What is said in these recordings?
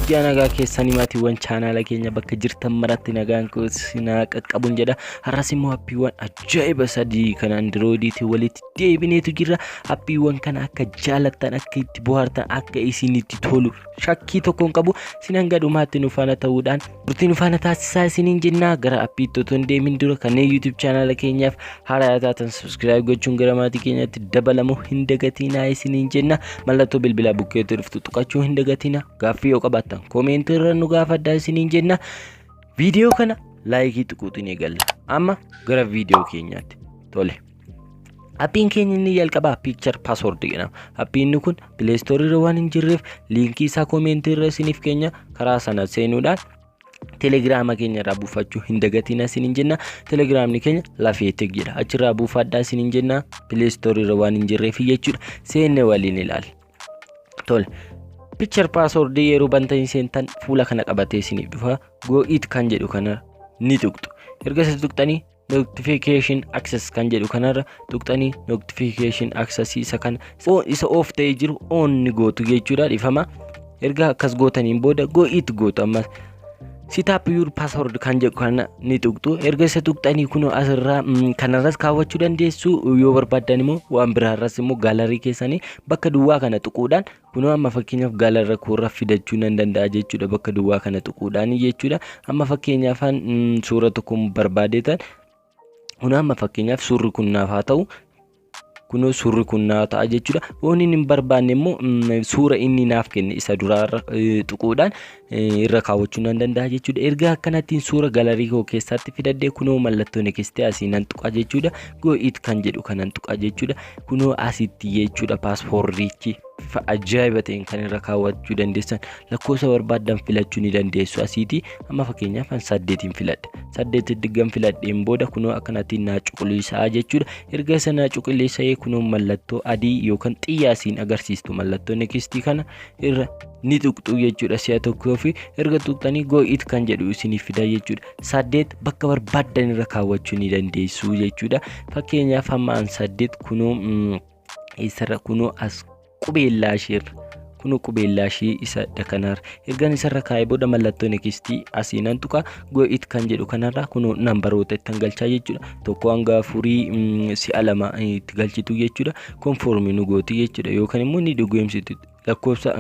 Guyyaa nagaa keessanii maatiiwwan chaanaala keenya bakka jirtan maratti nagaan sinaa qaqqabuun jedha. Har'as immoo appiiwwan ajaa'iba sadii kan andirooyidiitiin walitti deebineetu jirra. Appiiwwan kana akka jaalattan, akka itti bohaartan, akka isinitti tolu shakkii tokkoon qabu sinan gadhumaatti nu faana ta'uudhaan Turtii nu faana taasisaa isiniin jennaa gara appiitti otoo hin deemin dura kanneen YouTube chaanaala keenyaaf haaraa taatan subscribe gochuun gara maatii keenyaatti dabalamuu hin dagatinaa isiniin jenna mallattoo bilbilaa bukkeetti dhuftu tuqachuu hin dagatinaa gaaffii yoo qabaattan koomeentii irra nu gaafadhaa isiniin jenna viidiyoo kana laayikii tuquutiin eegalla amma gara viidiyoo keenyaatti tole. Appiin keenya inni jalqabaa Picture Password jedhama. Appiin inni kun Play Store irra waan hin jirreef liinkii isaa koomeentii irra isiniif keenya karaa sana seenuudhaan telegiraama keenya irraa buufachuu hin dagatina isiniin jenna. Telegiraamni keenya lafee tig jedha. Achirraa buufadhaa isiniin jenna. Play Store irra waan hin jirreef jechuudha. Seenne waliin ilaali. Tole. Picture Password yeroo bantanii seentan fuula kana qabatee isiniif dhufa. Go it kan jedhu kana ni tuqxu. Erga isa tuqxanii notification access kan jedhu kanarra tuqxanii notification access isa kan isa off ta'ee jiru on ni gootu jechuudha dhifama erga akkas gootaniin booda go it gootu ammas sitaap yuur paasword kan jedhu kana ni tuqxu erga isa tuqxanii kun asirraa kanarras kaawwachuu dandeessu yoo barbaaddan immoo waan biraarras immoo gaalarii keessanii bakka duwwaa kana tuquudhaan Kunoo amma fakkeenyaaf gaala rakuurra fidachuu nan danda'a jechuudha bakka duwwaa kana tuquudhaan jechuudha. Amma fakkeenyaaf suura tokko barbaadeetan kunoo amma fakkeenyaaf suurri kun naaf haa ta'u. Kunoo suurri kun naaf ta'a jechuudha. Waan inni hin barbaanne immoo suura inni naaf kenne isa duraarra tuquudhaan irra kaawwachuu nan danda'a jechuudha. Erga akkanattiin suura galarii koo keessaatti fidadhee kunoo mallattoo nekistii asii nan tuqaa jechuudha. Go it kan jedhu kanan tuqaa jechuudha. Kunoo asitti jechuudha paaspoorriichi bifa ajaa'iba ta'een kan irra kaawwachuu dandeessan lakkoofsa barbaaddan filachuu ni dandeessu asiiti. Amma fakkeenyaaf an saddeetiin filadha. Saddeetiin diggan filadheen booda kunoo akkanattiin naa cuquliisaa jechuudha. Erga isa naa cuquliisa'ee kunoo mallattoo adii yookaan xiyyaa siin agarsiistu mallattoo nekistii kana irra ni tuqxuu jechuudha si'a tokko yoo fi erga tuqxanii go it kan jedhu isiniif fida jechuudha saddeet bakka barbaaddan irra kaawwachuu ni dandeessu jechuudha fakkeenyaaf hamma an saddeet kunoo mm, isarra kunoo as qubeellaa isheerra kunoo qubeellaa ishee isa kanaarra ergan isarra kaa'ee booda mallattoo nekistii asii nan tuqa go it kan jedhu kanarra kunoo nambaroota ittan galchaa jechuudha tokko hanga afurii mm, si'a lama eh, itti galchitu jechuudha konfoormii nu gooti jechuudha yookaan immoo ni dhugoomsitu lakkoofsa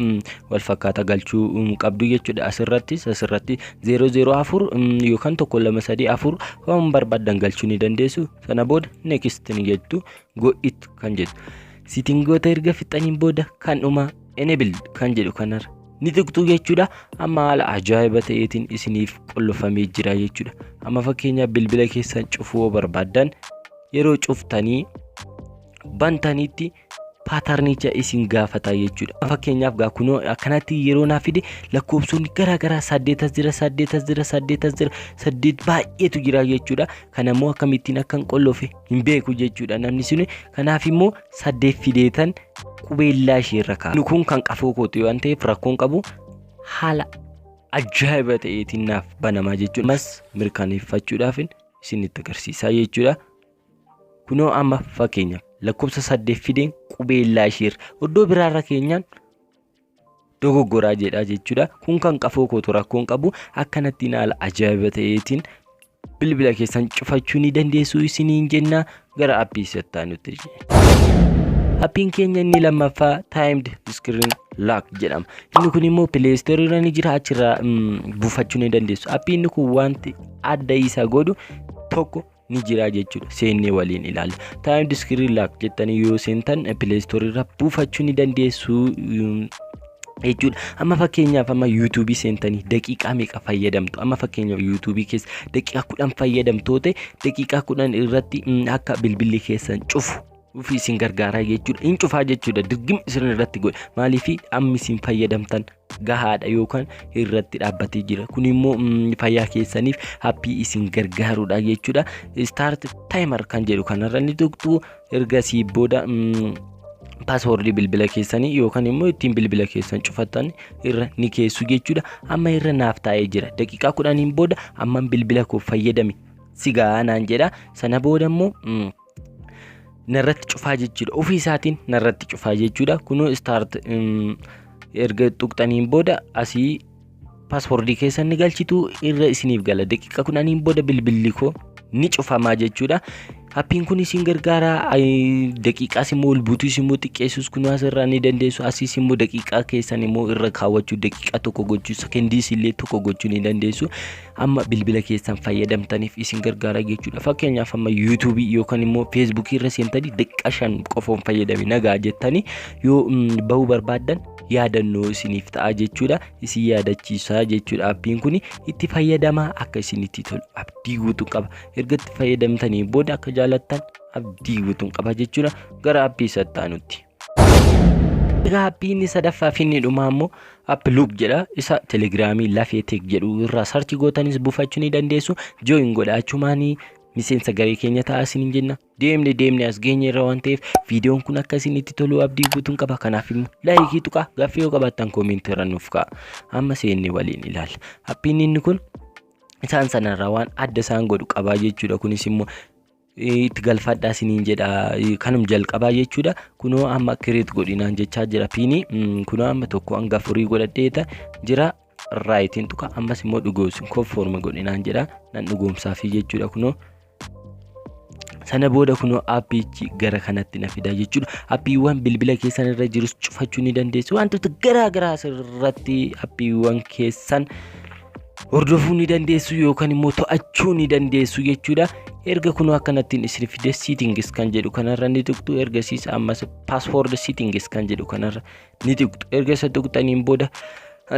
wal fakkaata galchuu qabdu jechuudha asirrattis asirratti 004 yookaan 1234 waan barbaadan galchuu ni dandeessu sana booda next ni jettu go it kan jedhu sitingoota erga fixaniin booda kan dhuma enable kan jedhu kanarra ni tuqxu jechuudha amma haala ajaa'iba ta'eetiin isiniif qollofamee jira jechuudha amma fakkeenyaaf bilbila keessan cufuu barbaaddan yeroo cuftanii bantanitti paatarnicha isin gaafata jechuudha. Fakkeenyaaf gaa kunoo akkanatti yeroo naaf fide lakkoofsonni garaa garaa saddeetas jira saddeetas jira saddeetas jira saddeet baay'eetu jira jechuudha. Kana immoo akkamittiin akkan qollofe hin beeku jechuudha namni suni. Kanaaf immoo saddeet fideetan qubeellaa ishee irra kaa'a. Inni kun kan qafoo kooti waan ta'eef rakkoon qabu haala ajaa'iba ta'eetiin naaf banamaa jechuudha. Ammas mirkaneeffachuudhaaf isinitti agarsiisaa jechuudha. Kunoo amma fakkeenyaaf lakkoofsa saddeet fideen qubeellaa ishee iddoo biraarra keenyaan dogoggoraa jedhaa jechuudha. Kun kan qafoo kootu rakkoon qabu akkanattiin haala ajaa'iba ta'eetiin bilbila keessan cufachuu ni dandeessu isiniin jenna gara appii settaa nutti. Appiin keenya inni lammaffaa timed screen lock jedhama. Inni kun immoo pileestorii irra ni jira achirraa buufachuu ni dandeessu. Appiin kun wanti adda isa godhu tokko ni jira jechuudha seennee waliin ilaalla time discrete laak jettanii yoo seentan play store irra buufachuu ni dandeessu jechuudha amma fakkeenyaaf amma yuutuubii seentanii daqiiqaa meeqa fayyadamtu amma fakkeenyaaf yuutuubii keessa daqiiqaa kudhan fayyadamtoote daqiiqaa kudhan irratti akka bilbilli keessan cufu ofii isin gargaaraa jechuudha hin cufaa jechuudha dirgim isin irratti godhe maaliif amma isin fayyadamtan gahaadha yookaan irratti dhaabbatee jira kun immoo mm, fayyaa keessaniif happii isin gargaarudha jechuudha start timer kan jedhu kanarra ni tuqxu ergasii booda mm, paaswoordii bilbila keessanii yookaan immoo ittiin bilbila keessan cufattan irra ni keessu jechuudha amma irra naaf taa'ee jira daqiiqaa kudhaniin booda amman bilbila koo fayyadame si gahaa naan jedha sana booda immoo mm, narratti cufaa jechuudha ofii isaatiin narratti cufaa jechuudha kunoo start erga tuqxaniin booda asii paaspoortii keessan ni galchitu irra isiniif gala daqiiqa kudhaniin booda bilbilli koo ni cufamaa jechuudha. Appiin kun isin gargaara daqiiqaas immoo ol buutuus immoo xiqqeessuus kun asirraa ni dandeessu asiis immoo daqiiqaa keessan immoo irra kaawwachuu daqiiqaa tokko gochuu sekendiis illee tokko gochuu ni dandeessu. amma bilbila keessan fayyadamtaniif isin gargaara jechuudha fakkeenyaaf amma yuutuubii yookaan immoo feesbuukii irra seentanii daqiiqaa shan qofoon fayyadame nagaa jettanii yoo mm, bahuu barbaaddan yaadannoo isiniif ta'a jechuudha isin yaadachiisa jechuudha appiin kun itti fayyadamaa akka isinitti tolu abdii guutuu qaba erga itti fayyadamtanii booda akka jaalattan abdii guutuun qaba jechuudha gara appii sattaanutti. Egaa appiin inni sadaffaa fi inni dhumaa immoo app loop jedha. Isa telegiraamii lafee teek jedhu irraa sarchi gootanis buufachuu ni dandeessu. Jooyin godha achumaanii miseensa garee keenya ta'a isiniin jenna. Deemne deemne as geenye irra waan ta'eef viidiyoon kun akka isinitti tolu abdii guutuun qaba. Kanaaf immoo laayikii tuqaa gaaffii yoo qabaattan koomentii irra nuuf ka'a. Amma seenne waliin ilaalla. Appiin inni kun isaan sanarraa waan adda isaan godhu qabaa jechuudha. Kunis immoo itti galfadhaa siniin jedha kanum jalqabaa jechuudha kunoo amma kireet godhinaan jechaa jira piinii kunoo amma tokko hanga afurii godhadheeta jira raayitiin tuqa ammas immoo dhugoomsuun konfoorma godhinaan jedha nan dhugoomsaafii jechuudha kunoo sana booda kunoo appiichi gara kanatti na fida jechuudha appiiwwan bilbila keessan irra jirus cufachuu ni dandeessu wantoota garaa garaa irratti appiiwwan keessan hordofuu ni dandeessu yookaan immoo to'achuu ni dandeessu jechuudha. Erga kunuu akkanattiin isin fide settings kan jedhu kanarra ni tuqxu ergasiis ammas password settings kan jedhu kanarra ni tuqxu erga isa tuqxaniin booda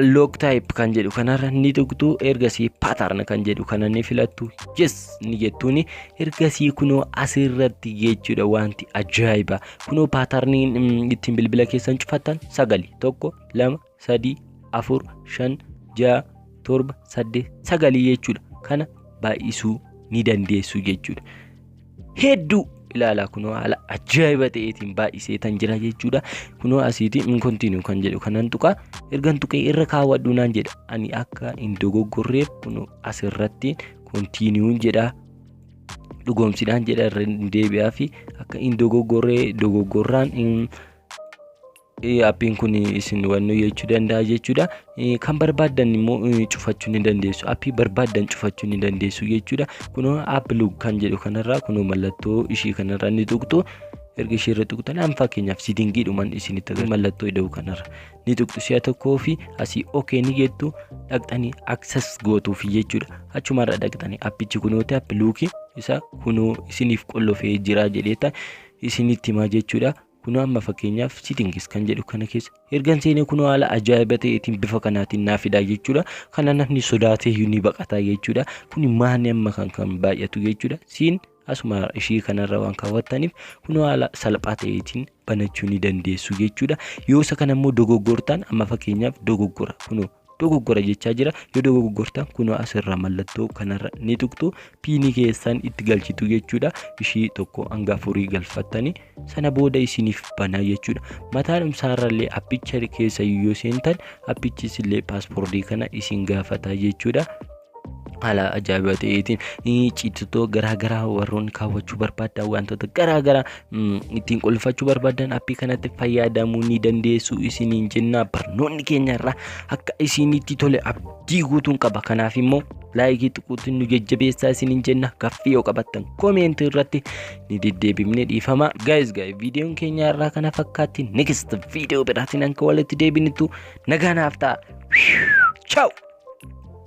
log type kan jedhu kanarra ni tuqxu ergasii pattern kan jedhu kana ni filattu yes ni jettuuni ergasii kunoo asirratti jechuudha wanti ajaa'iba kunoo patternii ittiin bilbila keessan cufattan sagali tokko lama sadii, afur, shan, ja'a, torba, saddeet, sagalii jechuudha. Kana baay'isuu ni dandeessu jechuudha. Hedduu ilaalaa kunoo haala ajaa'iba ta'eetiin baay'isee tan jira jechuudha. Kunoo asiitiin in continue kan jedhu kanan tuqaa ergan tuqee irra kaawwadhu naan jedha. Ani akka hin dogoggorreef kunoo asirratti continue jedha. Dhugoomsidhaan jedha irra deebi'aa fi akka hin dogoggorree dogoggorraan appiin kun isin wannu jechuu danda'a jechuudha. Kan barbaaddan immoo cufachuu ni dandeessu. Appii barbaaddan cufachuu ni dandeessu jechuudha. Kunoo app lug kan jedhu kanarraa kunoo mallattoo ishii kanarraa ni tuqxu. Erga ishii irra tuqxan an fakkeenyaaf siidingiidhuman isinitti agarsiisa. Mallattoo ida'uu kanarra ni tuqxu si'a tokkoo fi asii okee ni jettu dhaqxanii access gootuuf jechuudha. Achumarra dhaqxanii appichi kunooti app luukii isa kunoo isiniif qollofee jira jedheeta isinitti himaa jechuudha. Kunoo amma fakkeenyaaf settings kan jedhu kana keessa ergan seenee kunoo haala ajaa'iba ta'eetiin bifa kanaatiin naa fidaa jechuudha. Kana namni sodaatee iyyuu ni baqataa jechuudha. Kuni maanni amma kan kan baay'atu jechuudha. Siin asuma ishii kanarra waan kaawwattaniif kunoo haala salphaa ta'eetiin banachuu ni dandeessu jechuudha. Yoo isa kana immoo dogoggortaan amma fakkeenyaaf dogoggora kunoo dogoggora jechaa jira yoo dogoggortan kunoo asirra mallattoo kanarra ni tuqxu piinii keessan itti galchitu jechuudha ishii tokko hanga afurii galfattanii sana booda isiniif banaa jechuudha mataan umsaarrallee appicha keessa yoo seentan appichis illee paaspoortii kana isin gaafataa jechuudha haala ajaa'ibaa ta'eetiin ciitotoo garaagaraa warroonni kaawwachuu barbaadan wantoota garaagaraa ittiin qulfachuu barbaadan appii kanatti fayyadamuu ni dandeessu isiniin jenna barnoonni keenya irraa akka isinitti tole abdii guutuun qaba kanaaf immoo laayikii xiquutiin nu jajjabeessaa isiniin jenna gaffii yoo qabattan koomeentii irratti ni deddeebifne dhiifama gaayis gaay viidiyoon keenya irraa kana fakkaatti next viidiyoo biraatiin akka walitti deebinitu nagaanaaf ta'a. Ciao!